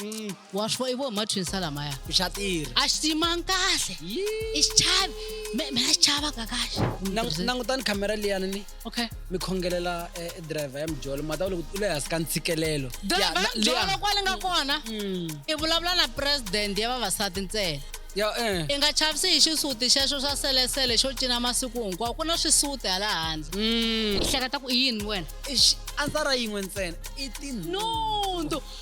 Mm. wa swi vona i vo martin salamaya xa tirha a xi tiyimanga kahle i xi chavi me me a xi chavaka kahle Nang- langutani khamera liyani ni okay mi khongelela eh, eh, driver ya mijolo mata u le ku- u le hansi ka ntshikelelo Ya, driver na- liya. jolo kwale nga kona Mm. i vulavula na president ya vavasati ntsena ya eh i nga chavisi hi xisuti xexo xa selesele xo cina masiku hinkwawo ku na swisuti hala handle Mm. i hleketa ku i yini wena Eish, a ndzi ta ra yin'we ntsena i tinhu nundu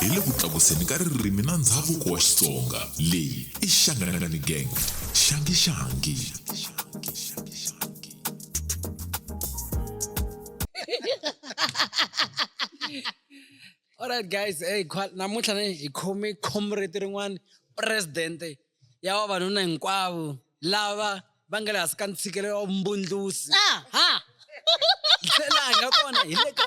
hi le ku tlakuseni ka ririmi na ndhavuko wa xitsonga leyi i xanganangani gang xangixangi alright guys hey namuntlha ni hi khome comrade rin'wana presidente ya vavanuna hinkwavo lava va nga le hansi ka ntshikelelo wa vumbundlusi ah, ha ndlela nga kona hi le ka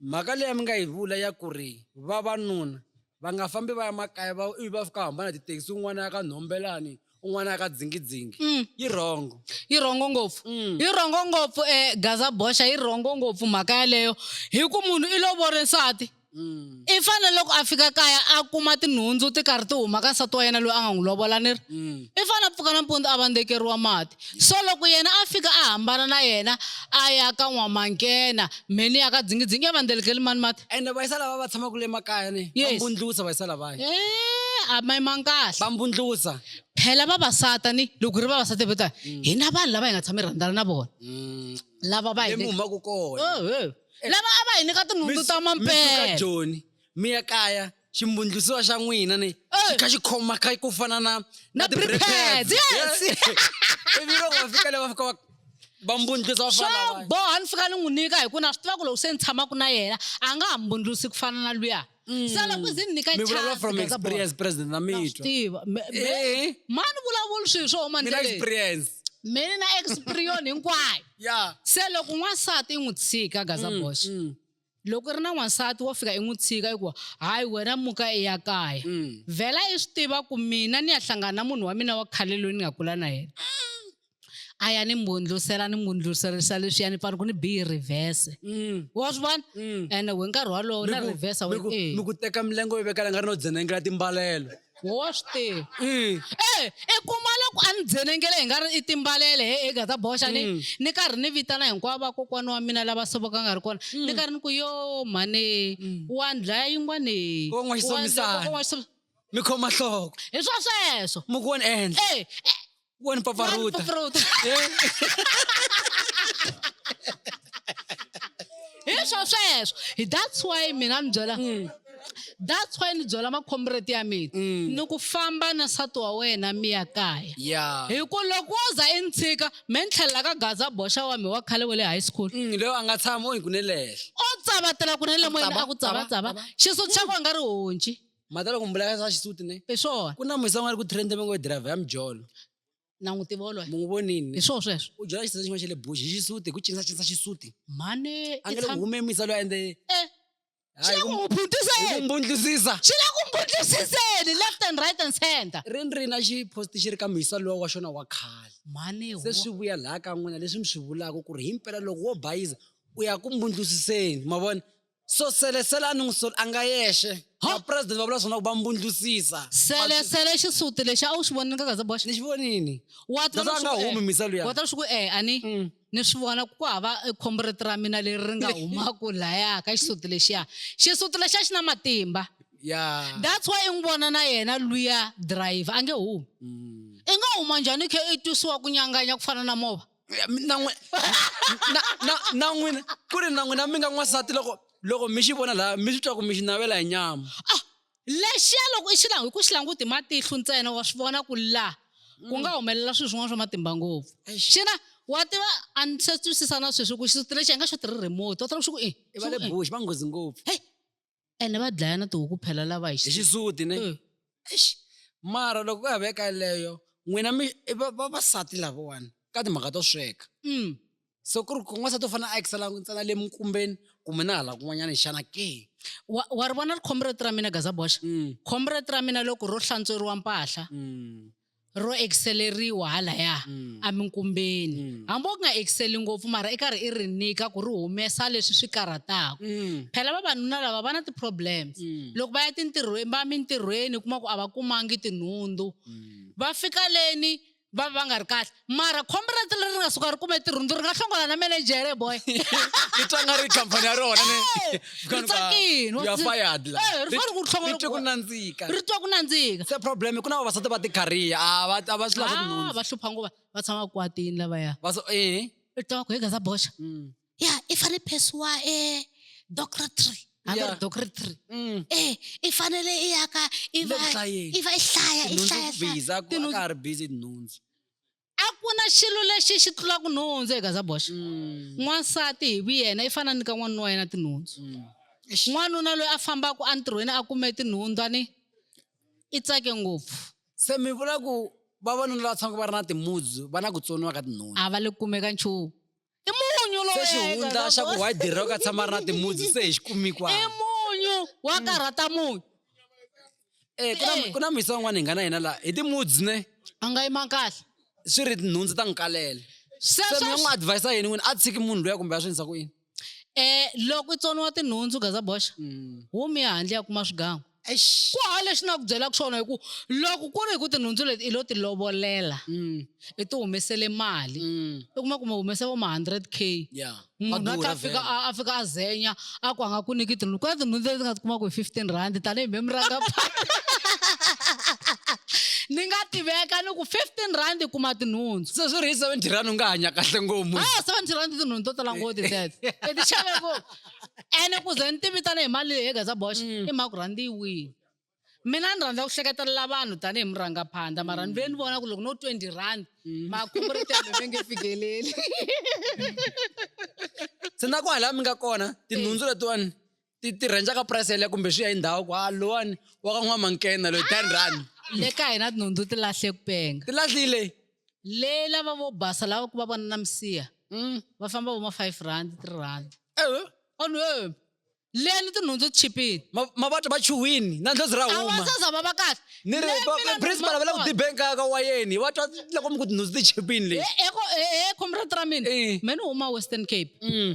mhaka leyi a mi nga yi vula ya ku ri vavanuna va nga fambi va ya makaya va ivi va fika hambana tithekisi un'wana ya ka nhombelani un'wana ya ka dzingidzingi mm. yi rhongo yi rhongo ngopfu mm. yi rhongo ngopfu um eh, gaza boxa yi rhongo ngopfu mhaka yaleyo hi ku munhu i lovore nsati mm. i fanele loko a fika kaya a kuma tinhundzu ti karhi ti huma ka nsati wa yena loyi a nga n'wi lovola ni ri mm. i fanele a pfuka nampundzu a vandzekeriwa mati so loko yena a fika a hambana na yena a ya ka n'wamankena mheni ya ka dzingidzingi ya vandzelekeli mani mati ende vayisa lava va tshamaka le makaya ni vambundlusa vayisa lavaya eh, a ma yimanga kahle vambundlusa phela vavasata ni loko hi ri vavasati vo ta mm. hi na vanhu lava hi nga tshama hi rhandzana na vona mm. lava va hi humaka kona oh, lava a va hi nyika tinhundzu ta mampela joni mi ya kaya ximbundlusiwa xa n'wina ni xi kha xi khoma kha ku fana na na prepads yes ivi loko va fika le va fika va va mbundlusa swo boha ni fika ni n'wi nyika hi ku na swi tiva ku loko se ni tshamaka na yena a nga ha mbundlusi ku fana na luya Mm. sala ku zini ni ka mi vulavula chance from ka za bolo. experience president na Na swi mitwa tiva Me- me- Eh. mani vulavula swilo swo huma mina ndleleni experience mina na experion hinkwayo ya se loko n'wansati i n'wi tshika gaza Mm, bosh mm, loko i ri na n'wansati wo fika i n'wi tshika hikuva hayi wena muka i ya kaya mm. vhela i swi tiva ku mina ni ya hlangana na munhu wa mina wa khale loyi ni nga kula na yena a ya ni mbundlusela ni mbundluserisa leswiya ni pfani ku ni biyi reverse mm. wa swi vona mm. ene we nkarhi walowo na reversa we ni ku teka milengo yo vekala nga ri no dzenengela timbalelo wa swi tiva mm. e i kuma loko a ni dzenengele hi nga ri i timbalele he ega ta boxa ni mm. ni karhi ni vitana hinkwavo vakokwana wa mina lava sovoka nga ri kona ni mm. karhi ni ku yo mhane wa ndlaya yin'wane kon'waxisamisana mi khoma nhloko hi swa sweswo mi ku wona ehenhla e, e, One pa paruta. hi swo sweswo hi that's why mina ni byela hmm. that's why ni byela makhombreti ya mina hmm. ni ku famba na nsati wa wena mi ya kaya hi ku loko wo za i ni tshika me ni tlhelela ka gaza boxa wa mi wa khale wa le high school hmm, leyo a nga tshama o hi ku ne lehla o tsavatela ku ne le moyeni a ku tsavatsava xisuti xa ku a nga ri honci Mhata loko mbula ya sa xisuti ne. Hi swona. Ku na musa a nga ri ku trend va ngo driver ya mjolo. Na n'wi tiva woloye. Mu n'wi vonini. Hi swona sweswo. U jola xitsotsi xin'wana xa le bush hi xisuti hi ku cinisa cinisa xisuti. Mhani. A nge loko hume musa loyi ende. Eh. Swi la ku n'wi phuntiseni. Hi ku mbundlusisa. Swi la ku mbundlusiseni left and right and center. Ri ni ri na xi post xi ri ka musa lowa wa xona wa khale. Mhani wo. Se swi vuya laha ka n'wina leswi mi swi vulaka ku ri himpela loko wo bayiza u ya ku mbundlusiseni ma vona. so sele sele a ni n'wi soli a nga yexe Huh? vapresidente va vula swona ku va mbundlusisa sele sele xisuti lexi a wu xi vonile ka gaza boxa ni xi vonini wa That's why a nga humi misa luya. wa tala swi ku e ani Mm. ni swi vona ku hava eh, comrade ra mina leri ri nga humaku laya ka xisuti lexiya xisuti lexiya xi na matimba ya that's why i n'wi vona na yena luya driver a nge humi Mm. i nga huma njhani i khe i twisiwa ku nyanganya ku fana na mova Ya, mi- na n'wi- na- na- na n'wina ku ri na n'wina mi nga n'wansati loko loko mi xi vona laha mi swi twa ku mi xi navela hi nyama ah lexiya loko i xi langu hi ku xi languti hi matihlo ntsena wa swi vona ku laha ku nga humelela swilo swin'wana swa matimba ngopfu xana wa tiva a ni se twisisa na sweswi ku xisuti lexi a nga xo tirhi remote wa tiva ku xi ku i i va le bush va nghozi ngopfu heyi ene va dlaya na tihuku phela lava hi hi xi- xisuti ne Eh, Eish, mara loko ku ya ve ka leyo n'wina mi i va- vavasati lavawani ka timhaka to sweka mm. so ku ri ku n'wansati u fanele a ekisela ntsena le minkumbeni kumbe na hala kun'wanyana xana ke wa wa ri vona ri comrade ra mina gazaboxa Mm, comrade ra mina loko ro hlantsweriwa mpahla mm, ro ekiseleriwa halaya mm. eminkumbeni mm. hambi u nga ekiseli ngopfu mara i karhi i ri nyika ku ri humesa leswi swi karhataka mm. phela vavanuna lava va na ti-problems mm. loko va ya tintirhweni va mintirhweni kuma ku a va kumangi tinhundzu mm. va fika leni va va nga ri kahle mara khombo ra tilo ri nga suka ri kume ntirho ndzi ri nga hlongola na menejere boy i twa nga ri khampani ya rona ri tsakile ya fired la eh, ri fanele ku hlongola ri ku nandzika ri twa ku nandzika se problem ku na vavasati va tikariya a va a va swi lava ah, va hlupha nguva va tshama kwatini lavaya va so eh i twa ku hi gaza boxa mm. ya i fanele phesiwa e docretary hambi Yeah. ri docretary Mm. eh i fanele i ya ka i Le va ku hlayeni. i va i hlaya i Tinhundzu hlaya ku hlaya. busy, a ku- a Tinhundzu- ka ha ri busy hi tinhundzu a ku na xilo lexi xi tlulaka nhundzu eka zaboxa Mm. n'wansati hi vuyena i fana ni ka n'wanuna wa yena tinhundzu Mm. n'wanuna loyi a fambaka entirhweni a kume tinhundwani i tsake ngopfu se mi vula ku vavanuna lava tshamaka va ri na timuzi va na ku tsoniwa ka tinhundzu a va le kumeka nchumu i munyu se lowu xihundla xa ku white dere u ka tshama ri na timudzi se hi xi kumikwa i munyu wa karhata munyu Eh, ku na- Eh. ku na misa un'wana hi nga na yena laha hi timudzi ne a nga yima kahle swi ri nhundzu ta n'wi kalele se mi nga n'wi sweswo advisa yini n'wini a tshiki munhu luya kumbe a swi endlisa ku yini um loko i tsoniwa tinhundzu gazaboxa Mm. humi ya handle ya kuma swigangu ku hava lexi ni nga ku byelaka xona hi ku loko ku ri hi ku tinhundzu leti i lo ti lovolela mm. i ti humesele mali mm. i kuma ku mi humese vo ma hundred k munhu a tlha fika a fika a zenya a ku a nga ku niki tinhundzu ku na tinhundzu leti nga ti kumaka hi fifteen rand tanihi mhemi ranga ni nga tiveka ni ku fifteen rand i kuma tinhundzu se swi ri hi seventy rand u nga hanya kahle ngopfu a ah, seventy rand tinhundzu to tala ngoti tet i ti xave ngopfu ene ku ze ni ti vitana hi mali leyi hegeza box mm. i mhaka ku rhandi yi wini mina ni rhandza ku hleketelela vanhu tanihi murhangaphandla mara ni ve ni vona ku loko no twenty rand mm. makhomretembe ve nge fikeleli se na ku hala mi nga kona tinhundzu letiwani ti ti rhenja ka price yaleyo kumbe swi ya hi ndhawu ku ha lowani wa ka n'wamankena loyi ten rand le ka hina tinhundzu ti lahle ku penga ti lahlile le lava vo basa lava ku va vona na misiha mm. va famba vo ma five rand three rand eh. onhu e eh. le ni tinhundzu ti chipini mavata va chuhwini na ndlozi ra humaavasaza va va kahle ni ri principal va le ku dibeni ka ka wayeni va twa loko mi ku tinhundzu ti chipini leyi eko e comrade ra mina me ni huma western cape mm.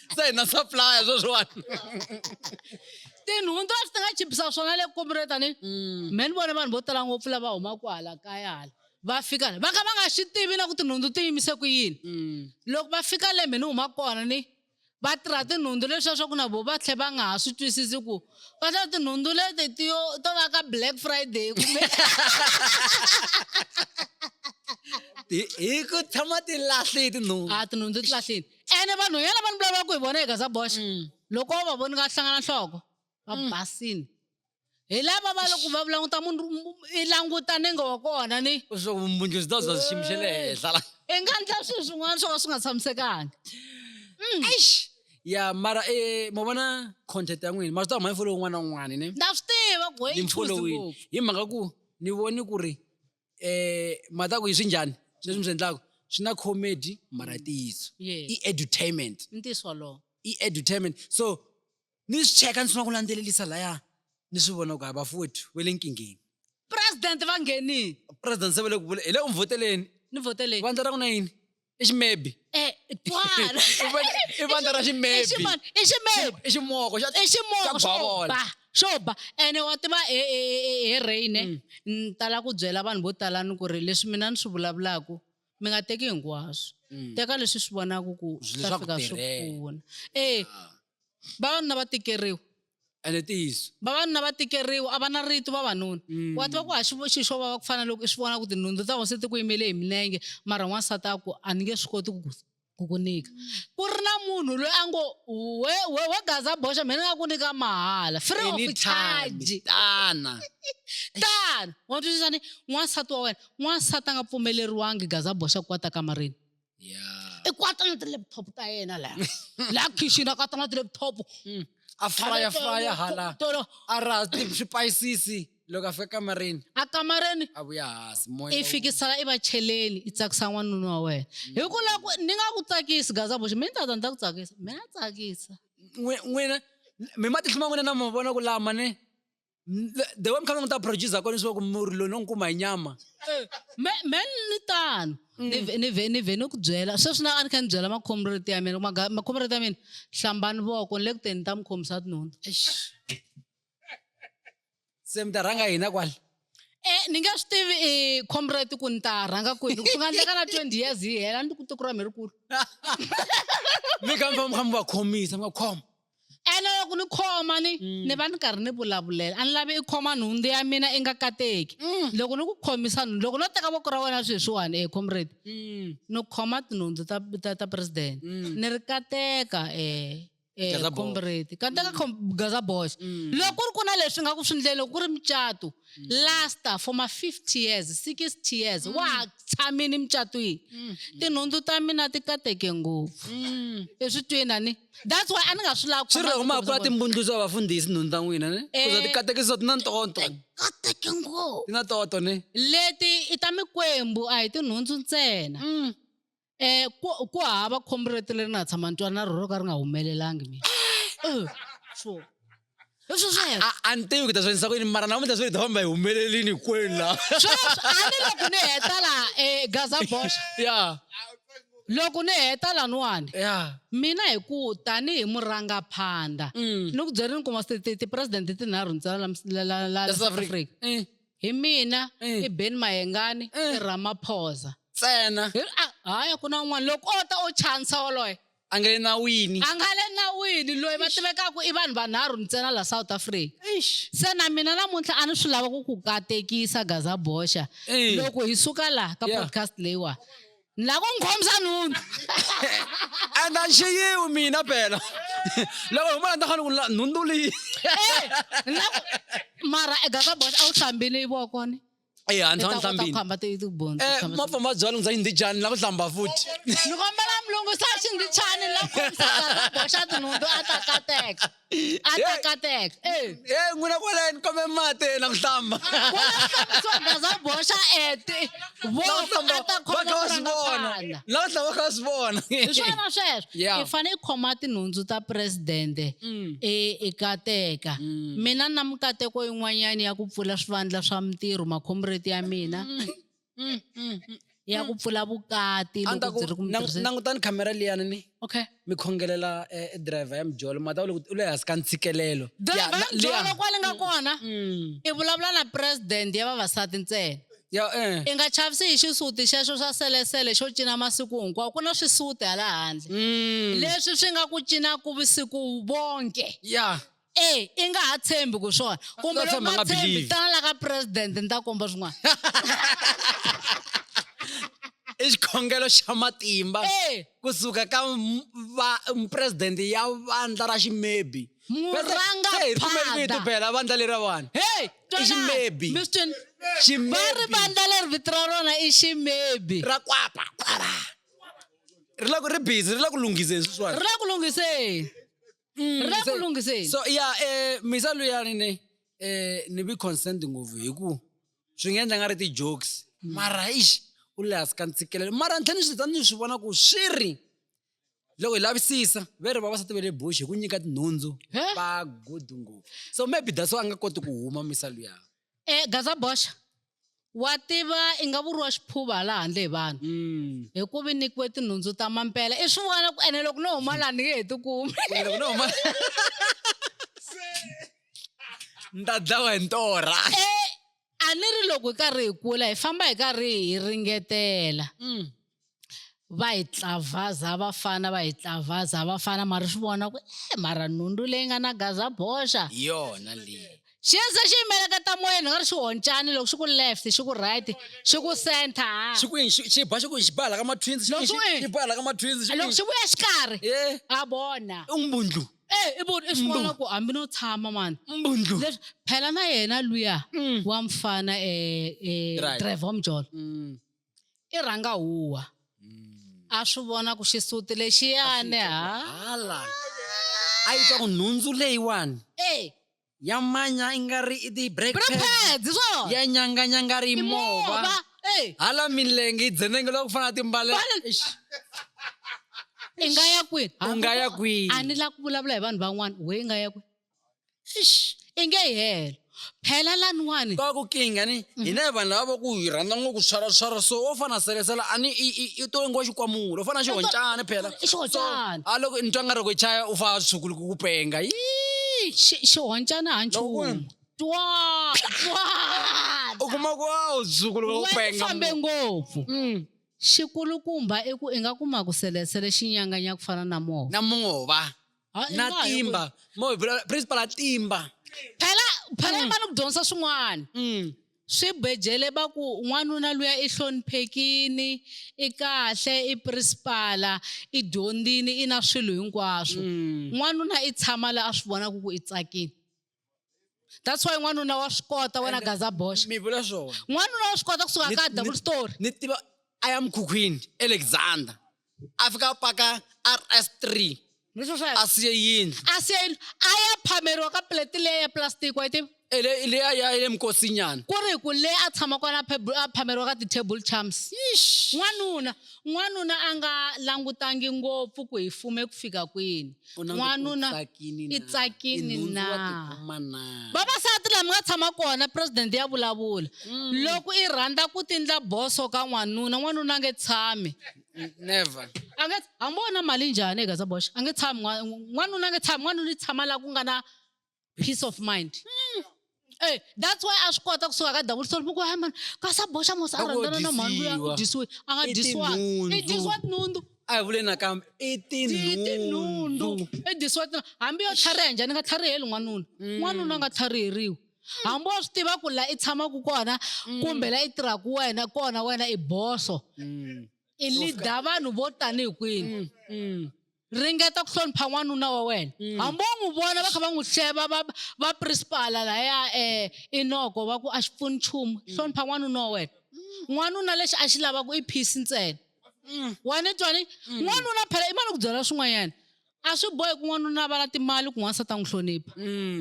se hina supplier sweswiwani tinhundzu a swi ti nga chipisa swona le kumure tani mm. me ni vone vanhu vo tala ngopfu lava humaka hala kaya hala va fika va ka va nga swi tivi na ku tinhundzu ti yimise ku yini mm. loko va fika le me ni huma kona ni va tirha tinhundzu leswiya swa ku na vo va tlhe va nga ha swi twisisi ku va tlhela tinhundzu leti tiyo to va ka black friday kumbe hi ku tshama ti lahlile tinhundzu a tinhundzu ti lahlile ene vanhu yala vanhu lava ku hi vona hi gaza boxa mm. loko va voni nga hlangana nhloko va mm. basini hi lava va loko va vulanguta munhu i languta nenge wa kona ni vumbundzu byi ta bya xiyimo xa le henhla la i nga ndla swilo swin'wana swo ka swi nga tshamisekanga mm. eish ya mara um eh, ma vona content ya n'wini ma swi ta huma yi folowi un'wana na un'wana ne na swi tiva ku hi mhaka ku ni voni ku ri eh mhaka ku yi swi njhani leswi mi swi endlaka swi na comedy mara ntiyiso Yes. i edutainment i ntiyiso wolowo i edutainment so ni swi cheka ni sungula ku landzelelisa laya ni swi vona ku hayi bafowethu we le nkingeni president va nghenile president se va le ku vula hi le ku mi voteleni ni voteleni vandla ra ku na yini i ximebi Eh, twala I van- i vandla ra ximebi Ximani, i ximebi i ximoko xa i ximoko Xa xo bavola. ba xo ba ene wa tiva he- he- he- he reyine Mm. ni tala ku byela vanhu vo tala ni ku ri leswi mina ni swi vulavulaku mi nga teki hinkwaswo Mm. teka leswi swi vonaku ku swi ta Leswaku fika swi tirhela. pfuna e vavanuna va tikeriwa ene ntiyiso vavanuna va tikeriwa a va na rito vavanuna mm. wa tiva ku haxi xi xo vava ku fana loko i swi vona ku tinhundzu ta hosi ti ku yimele hi milenge mara n'wansati a ku a ni nge swi koti ku ku ku nyika ku ri na munhu loyi a ngo we we we gaza boxa mina nga ku nyika mahala free of charge tana tana wa twisisa ni n'wansati wa wena n'wansati a nga pfumeleriwangi gaza boxa ku kwata kamareni ya i kwata na ti-laptop ta yena laha laha khixini a kwata na ti-laptop Mm. a fraya fraya hala tolo a raha ti- swipayisisi loko a fika kamareni a kamareni a vuya hansi moya i wu- fikisela i va cheleni i tsakisa n'wanuna wa wena hi ku la ku ni nga ku tsakisi gaza boxe mi ni tata ni ta ku tsakisa mi na tsakisa N'we- n'wina mi matihlo ma n'wina na mavona ku lama ne the way mi kha mi ta producer kona swa ku murhi loyi no n'wi kuma hi nyama eh, men ni tano mm. ni vhe ni vhe ni ku byela sweswi na a ni kha ni byela makhomreti ya mina makhomreti ya mina hlambani voko ni le ku teni ni ta mi khomisa tinhundzu se mi ta rhanga hina kwala e ni nge swi tivi i comrade ku ni ta rhanga kwini ku nga ndleka na twenty years yi hela ni ku tikura mi ri kulu mi kha mi famba mi kha mi va khomisa mi nga khoma Ene loko ni khoma ni mm. ni va ni karhi ni vulavulela a ni lavi i khoma nhundzu ya mina i nga kateki mm. loko ni ku khomisa nhundzu loko no teka voko ra wena sweswiwani e comrade mm. ni khoma tinhundzu ta ta, ta president ni ri kateka eh eh comrade kateka gaza boys loko ku ri ku na leswi nga ku swi ndleni loko ku ri mucato lasta for ma 50 years 60 years mm. wa ha tshamini mucatwini mm. tinhundzu ta mina ti kateke ngopfu mm. i swi twina ni that's why a ni nga swi lavi swi ri huma kula timbundluzo vafundhisi nhundzu ta n'wina ni eh. kuza ti katekiso ti na ntoto kateke ngopfu ti na toto ni leti i ta mikwembu a hi tinhundzu ntsena mm. Eh ku ku hava khombo rete leri na ha tshama ni twa na rona ro ka ri nga humelelangi mina. Eh, swo. Leswi sweswo. a a ni tivi ku ta swi endlisa ku yini mara namuntlha swi ri ta famba hi humelelini hinkwenu laha Sweswo a ni loko ni heta laha eGaza Bosch. ya Loko ni heta laniwani ya mina hi ku tanihi murangaphandla Mm. ni ku byela ni kuma ti- ti- ti-president tinharhu ntsena la mis- la- la- la- la South Africa. Mm. Hi mina Eh. i Ben Mayengani Eh. i Ramaphosa. ntsena Hi- a- Hayi ku na un'wana loko o ta o chansa woloye a nga le nawini a nga le nawini loyi va tivekaka i vanhu vanharhu ntsena la South Africa. Eish. Se na mina namuntlha a ni swi lava ku ku katekisa Gaza Boxa Eh. loko hi suka laha ka Yeah. podcast leyiwa ni lava ku n'wi khomisa nhundzu and a ni xiyiwi mina phela loko huma la ni ta fanele ku la nhundzu leyi eh, Ni lava ku- mara egaka box a wu hlambile ivoko ni eyi a ni tshama ni hlambile khamba tibonzi Eh, mapfa ma byala ndza yindzi jani la ku hlamba futhi ni kombela mulungu sa xindzi chani la khomisa gaka boxa tinhundzu a ta kateka a tekateka e n'wina kwaleni kome mati na ku hlamba baza boxa ete voatakhoaaaana la tlha va kha swi vona hi swona sweswo i fanele i khoma tinhundzu ta presidente mm. e, ekateka mm. mina na mikateko yin'wanyana ya ku pfula swivandla swa mintirho makhomureti ya mina mm. Mm, mm, mm. ya ku pfula vukati a ni ta loko ku byi ri ku mi lang- tirhiseni. langutani khamera liyani ni okay mi khongelela eh, eh, driver ya mijolo mata u le ku- u le hansi ka ntshikelelo Ya, driver na- ya liya. byona kwale nga kona Mm. i vulavula na president ya vavasati ntsena ya eh. i nga chavisi hi xisuti xexo xa selesele xo cina masiku hinkwawo ku na swisuti hala handle Mm. leswi swi nga ku cina ku vusiku vonke ya e i nga ha tshembi ku swona kumbe loko nga tshembi tana la ka president ni ta komba swin'wana i xikhongelo xa matimba eh. kusuka ka president ya vandla ra ximebi murangaphandaibela vandla leri ra vanhu i ximebi va ri vandla leri vito ra rona i ximebi ra kwapa kwapa ri la ku ri busy ri la ku lunghiseni sweswiwani ri la ku lunghiseni Mm, ri le ku se- lunghiseni so ya eh misa luyani ne eh ni bi consent ngopfu hi ku swi nga endla nga ri ti-jokes mara ix u le hansi ka ntshikelelo mara ntlhe ni swi ta ni swi vona ku swi ri loko hi lavisisa ve ri vavasati ve le bush hi ku nyika tinhundzu He? va good ngopfu so maybe that's why a nga koti ku huma misa luyani E gaza boxa wa tiva i nga vuriwa xiphuva hala handle hi vanhu mm. hi ku vi nikiwe tinhundzu ta mampela i swi vona ku ene loko no huma laha ni nge he tikumi ni ta dlawa hi ntorha e, a ni ri loko hi karhi hi kula hi famba hi karhi hi ringetela mm. va hi tlavhaza vafana va hi tlavhaza vafana mara swi vona ku e mara nhundu leyi nga na gaza boxa yona leyi xi ze xi yimeleketa moyeni nga ri xi honcani loko xi ku left xi ku right xi ku center ha xi ku yini xi ba xi ku xi bala ka matwins xi xi bala ka matwins xi loko xi vuya xikarhi ha bona i mbundlu eh i vona i swi vona ku hambi no tshama mani mbundlu leswi phela na yena luya mm. wa mfana eh eh Trevor Mjolo mm. i rhanga huwa hmm. a swi vona ku xisuti lexiyani hala a yi twa ku nhundzu leyiwani e ya manya i nga ri i ti-breakpads ya nyanganyanga ri mova e. hala milenge yi dzenenge loko ku fana na timbalelo i nga ya kwihi u nga ya kwihi a ni la ku vulavula hi vanhu van'wana we i nga ya kwihi Eish, i nge yi helo phela laniwani ka ku kinga ni mhm. hina hi vanhu lava va ku hi rhandza ngopfu swaraswara so wo fana selesela a ni i to ingiwa xikwamula u fana xihoncana phela xihoncana a loko ni twa nga ri ku chaya u fa sukulu ku ku penga yi xihoncana ha nchumu twa twa u kuma ku a wu sukulu ku ku penga fambe ngopfu mm. xikulukumba i ku i nga kuma ku selesele xinyanganya ku fana na mova na mova Ha, i na nga ha yi timba mo hi vula principal a timba phela phela mm. ni ku dyondzisa swin'wana mm. swi bejele va ku n'wanuna luya i hloniphekini i kahle i principala i dyondzini i na swilo hinkwaswo mm. n'wanuna i tshama la a swi vonaka ku i tsakile that's why n'wanuna wa swi kota wena gaza boxa mi vula swona n'wanuna wa swi kota kusuka ka double story ni tiva a ya mukhukhwini alexander a fika a paka rs three a siye yindlu a siye yindlu a ya phameriwa ka plate leyi ya plastic wa yi tiva leyi a ya le mukosinyana ku ri ku leyi a tshama kona a phameriwa ka ti-table charms n'wanuna N'wanuna a nga langutangi ngopfu ku hi fume ku fika kwini. N'wanuna i tsakini na? Vavasati la mi nga tshama kona president ya vulavula. Loko i rhandza ku tindla boso ka n'wanuna, n'wanuna a nge tshami. Never. A nge, hambi wo na mali njhani e Gaza Bosh, a nge tshami n'wanuna a nge tshami, n'wanuna i tshama la ku nga na peace of mind mm. Hey, eh, that's why a swi kota kusuka ka double story muku man ka sa boxa mos a rhandzana na mhani loyi a ku dyisiwe a nga dyisiwa i dyisiwa tinhundu a hi vule nakambe i tinhundu i dyisiwa tinhundu hambi yo tlhariha njhani nga tlhariheli n'wanuna mm. n'wanuna nga tlhariheriwi hambi wa swi tiva ku la i tshamaka kona mm. kumbe la i tirhaka wena kona wena i boso mm. i lida vanhu vo tanihi kwini ringeta ku hlonipha n'wanuna wa wena mm. hambi wo n'wi vona va kha va n'wi hleva va va principala laya um eh, inoko va ku a xi pfuni nchumu mm. hlonipha n'wanuna wa wena mm. n'wanuna lexi a xi lavaka i peace ntsena wena twani n'wanuna phela i mali ku byela swin'wanyana a swi bohi ku n'wanuna a va na timali ku n'wansati a n'wi hlonipha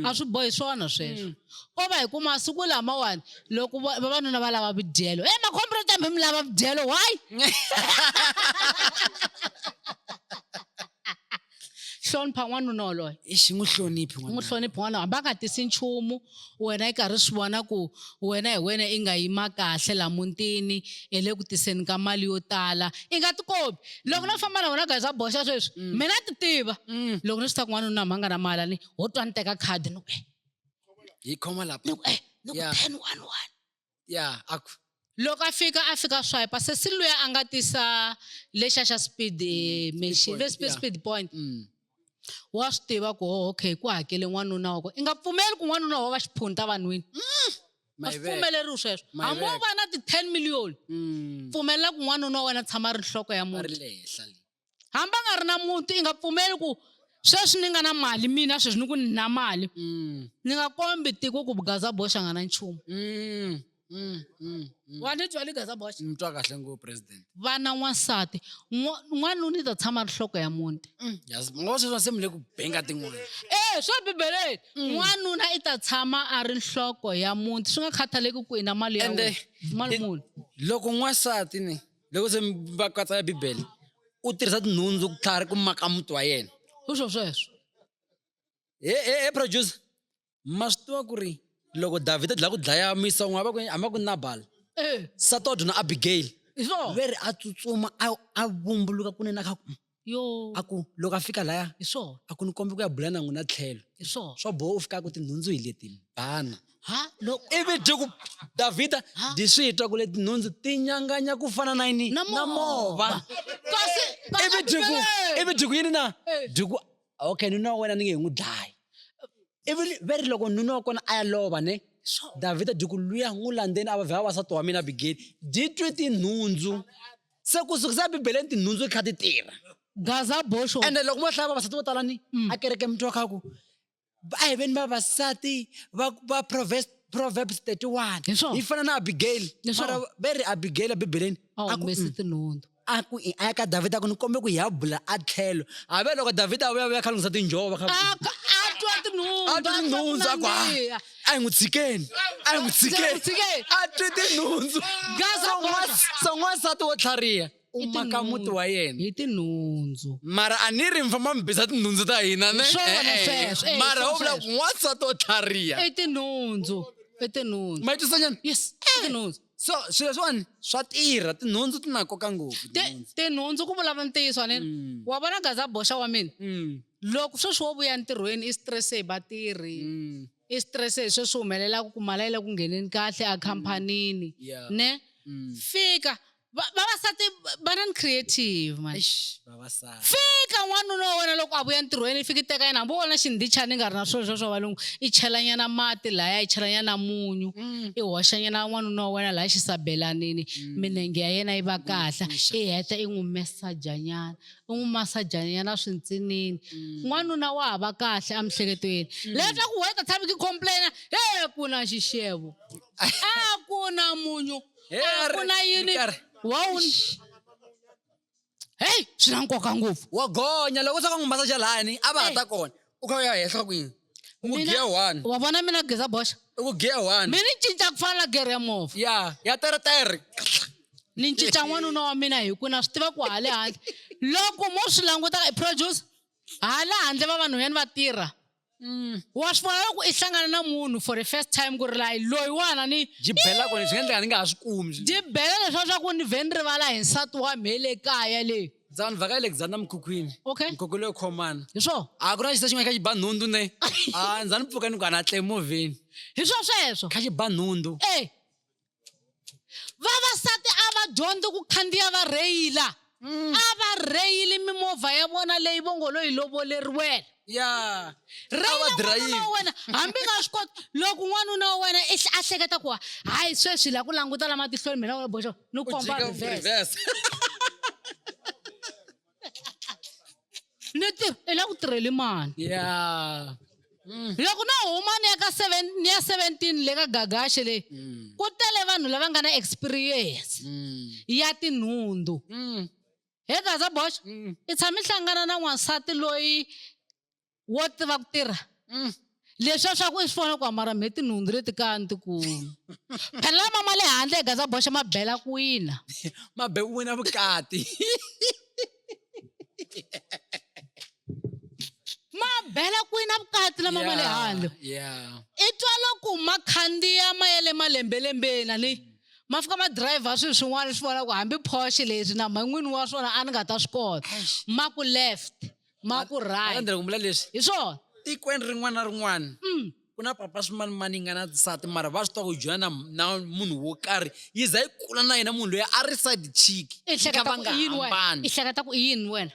a swi bohi swona sweswo Ko va hi ku masiku lamawani loko vavanuna va lava vudyelo e makhombo ro tambe mi lava vudyelo why hlonipha n'wanuna woloye i xi n'wi hloniphi n'wi hloniphi n'wana hambi a nga tisi nchumu wena i karhi swi vona ku wena hi wena i nga yima kahle la mutini hi le ku tiseni ka mali yo tala i nga tikobi loko no famba na wena guys a boxa sweswi mm. mina ti tiva mm. loko ni swi ta ku n'wanuna mhanga na mali ni ho twa ni teka khadi ni ku eh, yi khoma lapha ni ku eh ni ku Yeah. ten one one ya a ku loko a fika a fika swipe se si luya a nga tisa lexa xa speed eh, machine point, ve speed yeah. speed point mm, wa swi tiva ku oh, okay ku hakele n'wanuna wako i nga pfumeli ku n'wanuna wa va xiphunta vanhwini a swi Mayivela. pfumeleriwi sweswo Mayivela. hambi wo va na ti-ten million mm, pfumelela ku n'wanuna wa wena tshama a ri nhloko ya a ri muti le henhla le hambi a nga ri na muti i nga pfumeli ku sweswi ni nga na mali mina sweswi ni ku ni na mali mm. ni nga kombi tiko ku gaza boxa nga na nchumu mm, mm, wa ni twa ni gaza boxa ni twa kahle ngopfu president vana n'wansati n'wanuna ni ta tshama ri nhloko ya muti ngo sweswa se mi le ku benga tin'wana e swa bibeleni n'wanuna i ta tshama a ri nhloko ya muti swi nga khathaleki ku i na mali ya mali muni loko n'wansati ni loko se va katsa ya bibele u tirhisa tinhundzu ku tlhari ku maka muti wa yena sweswo sweswo he he he producer ma swi tiva ku ri loko davhida dlaya ku dlaya misa un'we hamba ku hamba ku nabala eh. satodyo na abigail hi swona ve ri a tsutsuma a a vumbuluka kunene a kha Yo. A ku, loko a fika laya. Hi swona. A ku, ni kombe ku ya bula na n'wina tlhelo. Hi swona. Swo boha u fika a ku, tinhundzu hi leti, bana. Ha, lo. Ivi byi ku, Davhida, byi swi twa ku leti nhundzu ti nyanganya ku fana na yini? Na mova. Na mova. Kasi, kasi. Ivi byi ku, ivi byi ku yini na? Byi ku, okay, nuna wa wena ni nge hi n'wi dlayi. Ivi ve ri loko nuna wa kona a ya lova ne, Davhida byi ku, luya n'wi landzeni a va vhela wasati wa mina Abigeli. Byi twe tinhundzu. se ku sukisa bibeleni tinhundzu ti kha ti tirha gaza bosho ende loko mo hlaya vavasati vo tala ni mm. a kereke mi twa kha ku a hi veni vavasati va va proverbs proverbs 31 yi fana na abigail mara ve ri abigail ebibeleni a humesi mm. tinhundzu a ku a ya ka davhida ku ni kombe ku hi ya bula a tlhelo a ve loko davhida a vuya vuya kha lunghisa tinjhovo va kha a twa tinhundzu a twa tinhundzu a ku a hi n'wi tshikeni a hi n'wi tshikeni tshikeni. a twi tinhundzu Gaza So n'was- boxa. so n'wansati wo tlhariha u maka muti wa yena hi tinhundzu mara a ni ri mi famba mi bisa tinhundzu ta hina ne Swona Eh, eh. sweswo, eh, mara swona u vula sweswo. n'wansati wo tlhariha i tinhundzu i tinhundzu ma yi twisanyana yes i tinhundzu so swilo swiwani swa tirha tinhundzu ti na nkoka ngopfu tinhundzu ku vulavula ntiyiso anini mm. wa vona gaza boxa wa mina mm. loko sweswi wo vuya ntirhweni i stress hi vatirhi mm. i stress hi sweswi humelelaka ku mala yi le ku ngheneni kahle a khampanini ne fika vavasati va na ni creative man fika n'wanuna wa wena loko a vuya ntirhweni i fiki teka yena hambi wona xindhichani i nga ri na swilo swa swa valungu i chelanyana mati laya i chelanyana munyu mm. i hoxanyana n'wanuna wa wena laya xisabelanini mm. minenge ya yena yi va kahle i heta i n'wi mesajanyana i n'wi masajanyana swintsinini mm. n'wanuna wa ha va kahle emihleketweni leta ku wena ta tshami ki complaina he ku na xixevo a ku na munyu a ku na yini wa heyi swi na nkoka ngopfu wa gonya loko swa ka n'wi masaja lani a va ha ta kona u kha u ya henhla kwini u ku giya one wa vona mina geza boxa u ku giya one mi ni cinca ku fana na gere ya movha ya ya teretere ni cinca n'wanuna wa mina hi ku na swi tiva ku hale handle loko mo swi languta i producer hala handle vavanhwanyani va tirha Mm. wa swi vona loko i hlangana na munhu for the first time ku ri layi loyiwana ni byi bela kona swi nga endleka ni nga ha swi kumi swi- byi bela leswa swa ku ni vhe ni rivala hi nsati wa mhe le kaya le ndza ni vhaka alexander mukhukhwini Okay. mukhukhu leyo khomana hi swo a ku na xisa xin'wana kha xi ba nhundzu ne a ndza ni pfuka ni ku ana tle movheni hi swo sweswo kha xi ba nhundzu e vavasati a va dyondzi ku khandziya va rheyila mm. a va rheyili mimovha ya vona leyi vongolo yi lovoleriwela ya rheyila wa wena hambi nga swi koti loko n'wanuna wa wena i a hleketa ku hayi sweswi la ku languta lama tihlweni mina wena boxo ni komba reverse ni tirha i la ku tirheli mani yeah. Mm. loko no huma ni ya ka seven ni ya seventeen le ka gagashe leyi mm. ku tele vanhu lava nga na experience mm. ya tinhundzu mm. he gaza bosh mm. i tshame hlangana na n'wansati loyi wo tiva ku tirha mm. leswiya swa ku i swi vona ku amara mhe tinhundzu leti kaya ni tikulu phela lama ma le handle hi gaza boxa ma bela ku wina ma be ku wina vukati ma bela ku wina vukati lama ma le handle i twa loko ma khandziya ma ya le malembelembeni ani mm. ma fika ma driver swilo swin'wana swi vona ku hambi porsche leswi na mhan'wini wa swona a ni nga ta swi kota ma ku left ma ku right Andrei ku vula leswi hi swona tikweni rin'wana na rin'wana mm. ku na papa swimani mani yi nga na nsati mara va swi tiva ku jola na na munhu wo karhi yi za yi kula na yena munhu loyi a ri side chick i hleketa ku i yini wena i hleketa ku i yini wena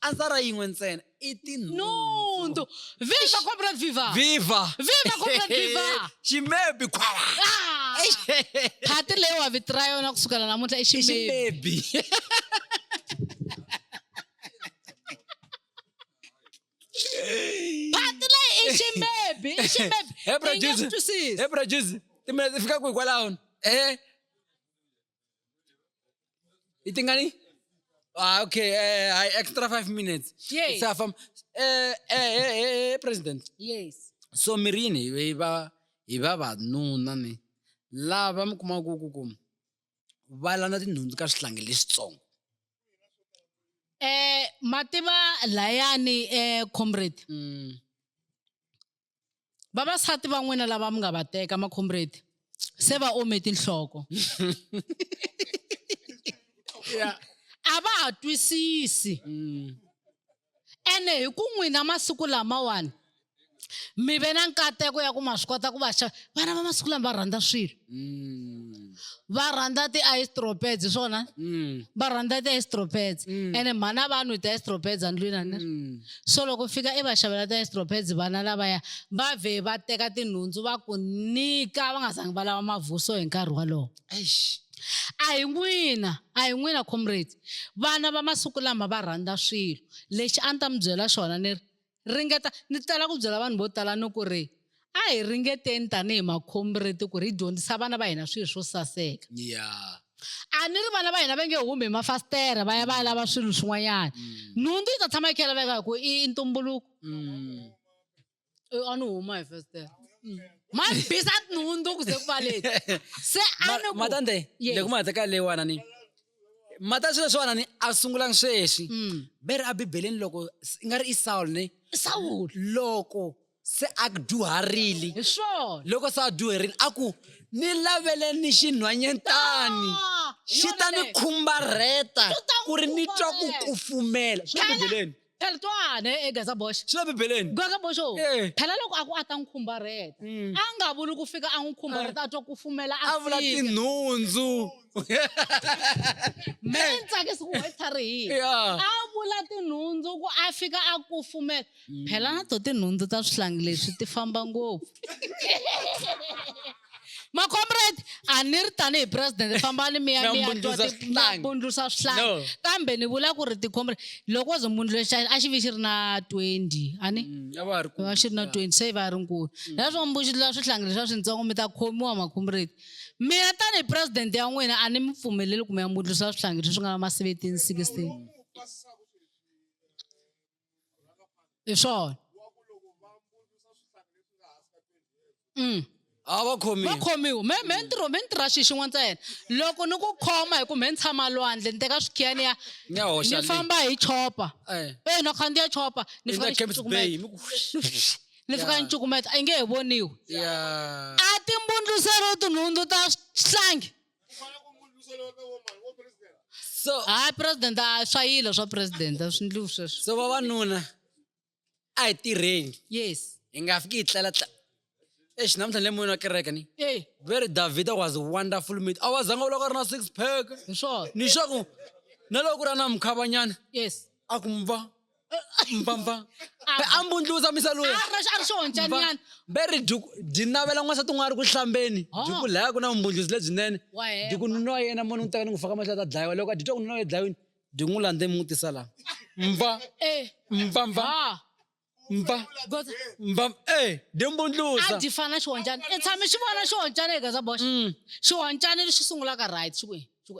ansara yin'we ntsena i tinhundzu viva comrade viva viva viva comrade viva ximebi khwala ah! phati leyi wa vitira yona kusukela namuntlha i ximebi phati leyi i ximebi i ximebi he I nge producer swi twisisi. he producer timinete fika kwihi kwalaho e yi tingani ah okay eh, hi extra five minutes Yes. It's a farm- eh, eh, eh, eh, eh, president yes so mirini hi va hi vavanuna ni lava mi kumaku ku ku va landza tinhundzu ka swihlangi leswitsongo eh mativa layani eh comrade mm. vavasati va n'wina lava mi nga va teka ma comrade se va ome tinhloko yeah. a va ha twisisi mm. ene hi ku n'wina masiku lamawani mi ve na nkateko ya ku ma swi kota ku va xava vana va masiku lama va rhandza swilo mm. va rhandza ti-istropeds swona mm. va rhandza ti-istropeds mm. ene mhana vanhu hi ti-istropeds andlwini ani so loko fika i va xavela ti-istropeds vana lavaya va vhe va teka tinhundzu va ku nyika va nga zangi va lava mavuso hi nkarhi wolowo a hi n'wina a hi n'wina comrade Vana va masiku lama va rhandza swilo. Lexi a ni ta mi byela xona ni ri, ringeta. Ni tala ku byela vanhu vo tala ni ku ri, a hi ringeteni tanihi makhombireti ku ri hi dyondzisa vana va hina swilo swo saseka. Yeah. A ni ri vana va hina va nge humi hi mafasitere va ya va ya lava swilo swin'wanyana. Nhundzu yi ta tshama yi kha yi laveka hi ku i ntumbuluko. Eh, a ni huma hi festere mm. mabisa tinhundzu ku ze ku valeni se matande leku ma hateka leyiwana ni mata swilo swiwana ni a sungulangi sweswi mm. bere a bibeleni loko i nga ri i sawul ni sawul loko se a dyuharile hi swona loko se a dyuherile a ku ni lavele ni xinhwanyentani ah, xi ta ni khumbarheta ku ri ni twa ku kufumela swi le bibeleni Peltwane e Gazabosh. Swi le Bibeleni. Gazabosh o, E. phela loko a ku a ta n'wi khumbarheta, Mm. a nga vuli ku fika a n'wi khumbarheta a twa ku fumela a A vula fika. tinhundzu. Me ni tsakisi ku why tlharihile. Yeah. A vula tinhundzu ku a fika a kufumela. Phela na to tinhundzu ta swihlangi leswi ti famba ngopfu. macomrade a ni ri tanihi president fambani mi ya mi ya bundlusa swihlangi kambe ni vula ku ri ticomrade loko wo ze mbundluxa a xi vi xi ri na twenty a ni mm, va xi ri na twenty se va ri nkulu mm. leswo mbundlula swihlangi leswi a swintsongo mi ta khomiwa macomrade mina tanihi president ya n'wina a ni mi pfumeleli kumbe ya mbundlusa swihlangi leswi nga na ma seventeen sixteen hi swona mm. a va khomiwa va khomiwa me me ntirho me ntirha xi xin'we ntsena loko ni ku khoma hi ku me ni tshama lwandle ni teka swikhiya ni ya ni famba hi chopa eh. e ni khandziya chopa ni fika ni ni fika ni cukumeta a yi nge he voniwi a timbundluselo tinhundzu ta swihlanghi so hayi president a swa yilo swa president a swi ndliwi sweswo so vavanuna a hi tirheni yes hi nga fiki hi tlela tla exi namuntlha ni le moyeni wa kereke ni ey very david was wonderful meet a wa zanga u loko a ri na six pack hi swona ni swaku na loko ku ri a na mukhavanyana yes a ku mva mbambam a mbundluza misa loyi a ri xo ncanyana ve ri dyuku dyi navela n'wansati un'wana ri ku hlambeni oh. dyuku laya ku na vumbundluzi lebyinene dyuku nuna wa yena mona n'wi teka ni n'wi faka mahlo ta dlayiwa loko a dyi twa ku nuna wa dlayiwini dyi n'wi landze mi n'wi tisa laha mva eh. mva mva mva mva e dyi mbundluza a dyi fana xihonjana i tshame xi vona xihonjana eka za boxa mm. xihonjana lexi sungulaka right xi ku xi ku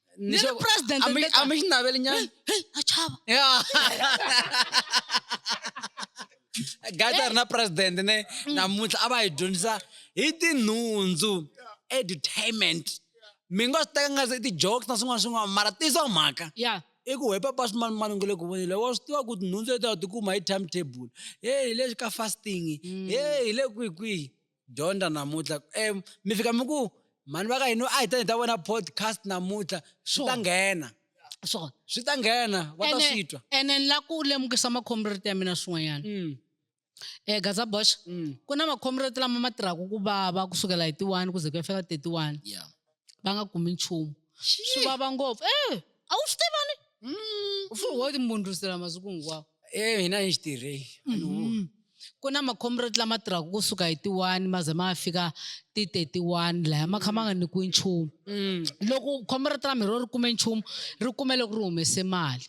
Ni zo- president Ami- ndeka. amishni na beli nyani. Hey, achaba. Yeah. gata ri na president ne namuntlha a va hi dyondzisa hi tinhundzu edutainment mi nga swi teka nga se i ti-jokes na swin'wana swin'wana mara tiso mhaka Yeah. i ku hepa pasi mani mani nge le ku vonile wa swi tiva ku tinhundzu leti a wu tikuma hi timetable he hi le ka fasting he hi le kwihi kwihi dyondza namuntlha um mi fika mi ku mhani va ka hina a hi ta ni ta vona podcast namuntlha swi ta nghena swona swi ta nghena va ta swi twa ene ni la ku lemukisa makhomriti ya mina swin'wanyana um eh, gaza bosh mm. ku na makhomriti lama ma tirhaka ku vava kusukela hi ti-one ku ze ku ya fika thirty-one yeah. va nga kumi nchumu swi vava ngopfu e a wu swi tivani mm. u furi wo timbundlusela masiku hinkwawo e hina hi xi tirhei mm-hmm. ku na makhomreti lama tirhaka kusuka hi ti-one ma ze ma fika ti-thirty-one laya ma kha ma nga nyikiwi nchumu mm. loko khomreti ra mhiri ri kume nchumu ri kume loko ri humese mali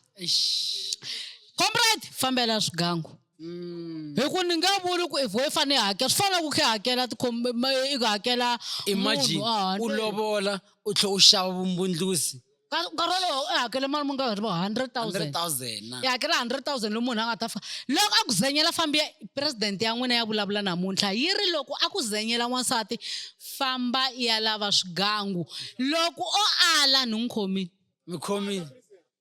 khomreti fambela swigangu Mm. hi ku ni nga vuli ku if i fanele hakela swi fana na ku khe hakela i ku hakela imagine ah, u lovola u tlhe u xava vumbundlusi nkarhi wolowo i hakele mali mu nga ri vo hundred thousand i hakela hundred thousand loyi munhu a nga ta fa loko a ku zenyela fambi ya president ya n'wina ya vulavula namuntlha yi ri loko a ku zenyela n'wansati famba ya lava swigangu loko o ala ni n'wi khomile mi khomile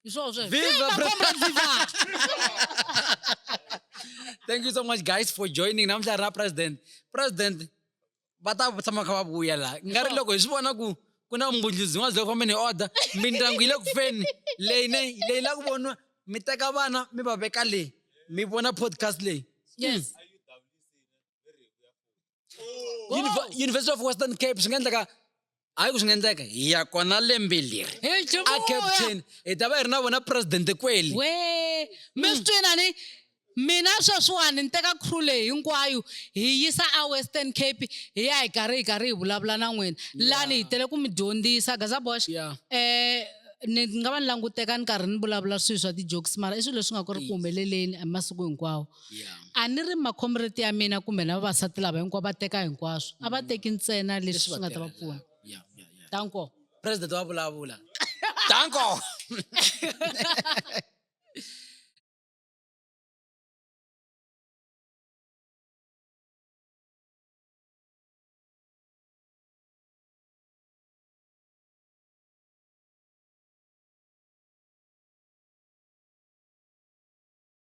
George, viva, viva Comrade Viva! Thank you so much guys for joining. Namuhla ra president. President va ta tshama kha va vuya la. Nga ri loko hi swi vona ku ku na umbundluzi n'wana loko fambeni hi order mindyangu yi le ku feni leyi ne leyi la ku voniwa mi teka vana mi va veka leyi mi vona podcast leyi. Yes. Hmm. Univer- university of western cape swi nga endleka hayi ku swi nga endleka hi ya kona lembe leri He a Jehovha. cape town hi ta va hi ri na vona presidente kweli we mi swi twina ni mina sweswiwani ni teka crew leyi hinkwayo hi yisa a western cape hi ya hi karhi hi karhi hi vulavula na n'wina lani hi tele ku mi dyondzisa gazabosh Yeah. eh ni nga va ni languteka ni karhi ni vulavula swilo swa ti-jokes mara i swilo leswi nga ku ri ku humeleleni hi masiku hinkwawo a ni ri makhomreti ya mina kumbe na vavasati lava hinkwavo va teka hinkwaswo a va teki ntsena leswi swi nga ta va pfuna tanko president wa vulavula tanko